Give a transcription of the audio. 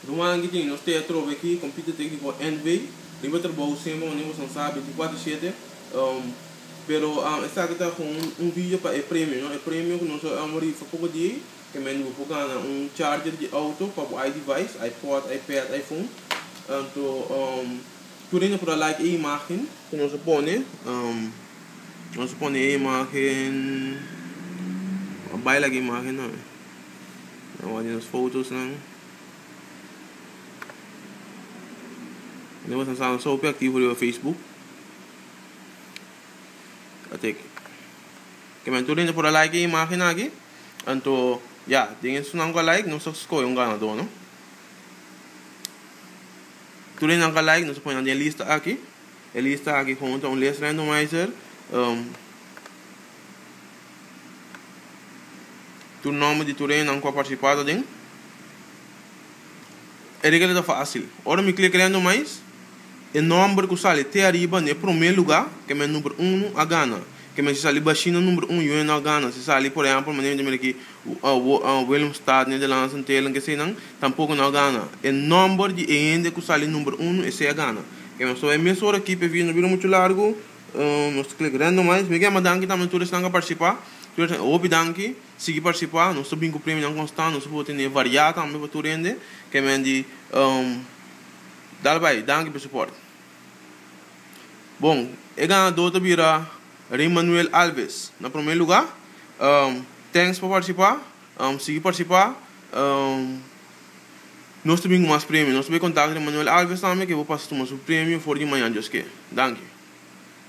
Ruman ki tin nos tea trobe aki compite tecnico NV riba trabou sema manera boso nan sa binticuater shete pero esaki ta con un video pa e premio no e premio cu nos a a rifa poco di ey ke men yu por gana un charger di auto pa bo iDevice iPod iPad iPhone anto tur ey nan por a like e imagen cu nos a pone nos a pone e imagen a bai like e imagen nan. Nan wak di nos fotosnan. Nos a sa hopi aktivo riba Facebook. A tek. Ke men tur por a like e imágen aki. Anto, ya, den esnan ku a like nos a skohe un ganadó, no. Tur esnan ku a like nos a pone nan den e lista aki. E lista aki komo ta un list randomizer. Tu nomber di tur enan ku a partisipado den e regla ta fásil. Ora mi klika den nomás, e nomber ku sali te ariba na e promé lugá, ke mes number uno, a gana. Ke mes si sali bashí na number uno, yo e no a gana. Si sali, por ehèmpel, manera mi ta mira akí, Willemstad, Nederlands en Teylingen, ke eseinan, tampoko e no a gana. E nomber di e hende ku sali number uno, esei a gana. Ke mes ta bai mes ora akí, p'e video no bira muchu largu. Nos ta klik rènt no mais. Mi ke ama danki tambe tur esnan ku a partisipa. Tur esnan hopi danki. Sigui partisipa. Nos ta bin ku premionan konstant. Nos a por tene variá tambe pa tur hende. Ke men di dal bai. Danki pa e soport. Bon, e ganadó ta bira Rey Manuel Alves. Na promé lugá. Thanks pa partisipa. Sigui partisipa. Nos ta bin cu mas premio. Nos ta bay contacta den Manuel Alves tambe, ke bo pasa tuma su premio for di maña, Dioske. Danki.